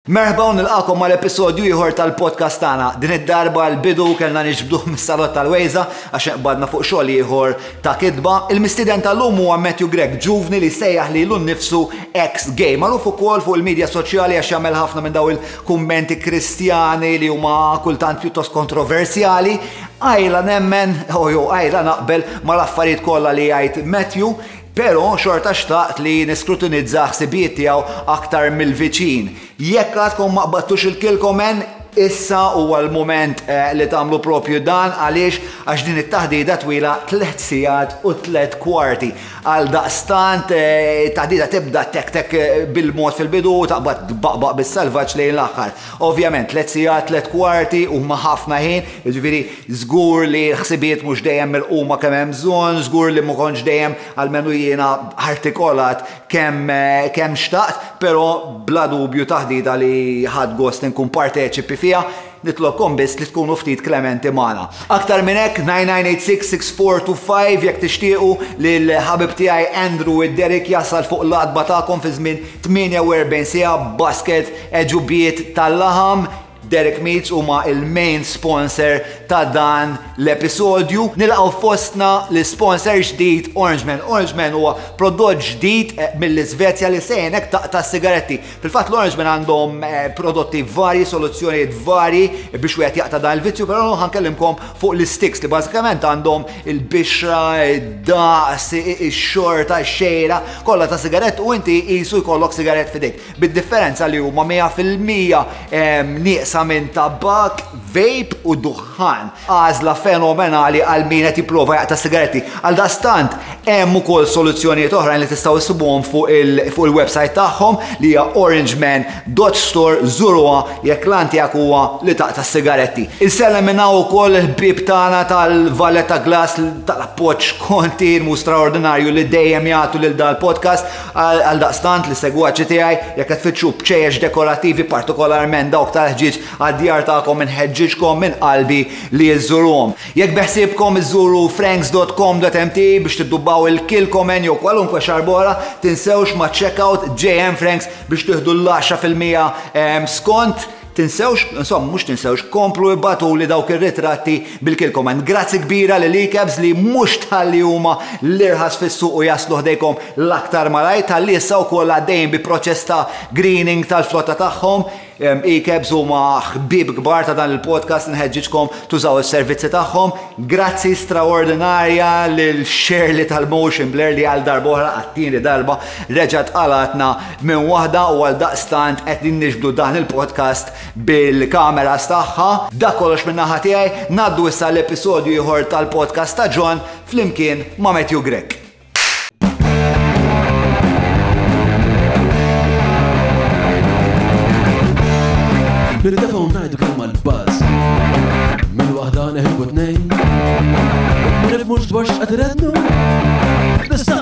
Merħba u nilqagħkom għal episodju ieħor tal-podcast tagħna. Din id-darba l-bidu kellna niġbduh mis-salott tal-Wejża għax inqbadna fuq xogħol ieħor ta' kitba. Il-mistieden tal-lum huwa Matthew Grech, ġuvni li jsejjaħ lilu nnifsu ex-gay. Magħruf ukoll fuq il-midja soċjali għax jagħmel ħafna minn daw il-kummenti Kristjani li huma kultant pjuttost kontroversjali. Għajla nemmen, o jew għajla naqbel mal-affarijiet kollha li jgħid Matthew, Pero, xorta xtaqt li niskrutinizza ħsibijiet tiegħu aktar mill-viċin. Jekk għadkom ma qbadtux ilkilkom en, issa huwa l-mument li tagħmlu propju dan għaliex għax din it-taħdita twila tliet sigħat u tliet kwarti. Għaldaqstant, it-taħdita tibda tek tek bil-mod fil-bidu u taqbad tbaqbaq bis-salvaġġ lejn l-aħħar. Ovvjament, tliet sigħat, tliet kwarti huma ħafna ħin, jiġifieri Żgur li l-ħsibiet mhux dejjem milquma kemm hemm bżonn, żgur li ma kontx dejjem, almenu jiena, artikolat kemm kemm xtaqt, però bla dubju taħdita li ħadt gost inkun parteċipi fiha. Nitlobkom biss li tkunu ftit klementi magħna. Aktar minn hekk, 99866425 jekk tixtiequ li l-ħabib tiegħi Andrew id-Derrick jasal fuq l-għatba tagħkom fi żmien 48 siegħa b'basket għeġubiet tal-laħam, Derek Meats huma il-main sponsor ta' dan l-episodju. Nilqgħu fostna l-sponsor ġdid Orangeman. Orangeman huwa prodott ġdid eh, mill-Iżvezja li sejnek taqta' sigaretti. Fil-fatt l-Orangeman għandhom eh, prodotti varji, soluzzjonijiet varji biex wieħed jaqta' dan il-vizzju, però ħankellimkom fuq l-sticks li bażikament għandhom il-bixra, id-daqs, ix-xorta, ix-xejra, kollha ta' sigarett u inti qisu jkollok sigarett fidejk. bid-differenza li huma mija fil-mija nieqsa minn tabakk, vape u duħħan. Għażla fenomenali għal min qed jipprova jaqta' sigaretti. Għaldaqstant, hemm ukoll soluzzjonijiet oħrajn li tistgħu issibuhom fuq il-websajt tagħhom li hija orangeman.store żuruha jekk l-għan tiegħek huwa li taqta' s-sigaretti. Insellem minn hawn ukoll il-ħbieb tagħna tal-Valletta Glass tal-appoġġ kontinwu straordinarju li dejjem jagħtu lil dal-podcast. Għaldaqstant, l-segwaċi tiegħi, jekk qed tfittxu bċejjex dekorattivi, partikolarment dawk tal-ħġieġ għad-djar tagħkom inħeġġiġkom minn qalbi li iżżuruhom. Jekk beħsiebkom iżżuru franks.com.mt biex tiddubbaw il-Kilchoman jew kwalunkwe xarb oħra, tinsewx maċ-checkout JM Franks biex tieħdu l-10 fil-mija skont. Tinsewx, insomma mhux tinsewx, komplu ibgħatuli dawk ir-ritratti bil-kilkom hemm. Grazzi kbira lil Icabs li mhux tħalli huma l-irħas fis-suq u jaslu ħdejkom l-aktar malajr, tħalli issa wkoll għaddejjin bi proċess ta' greening tal-flotta tagħhom. Icabs huma ħbieb kbar ta' dan il-podcast, inħeġġiġkom tużaw is-servizzi tagħhom. Grazzi straordinarja lil Shirley tal-Motion Blur li għal darb'oħra, għat-tieni darba, reġgħet qalgħatna Minn waħda u għaldaqstant qegħdin niġbdu dan il-podcast bil-cameras tagħha. Dak kollox minn naħa tiegħi, ngħaddu issa għal episodju ieħor tal-podcast ta' John flimkien ma' Matthew Grech. Nirdefaw ngħidu kemm mal-baż. Minn waħda neħibu tnejn. Nifmux dwar x'qed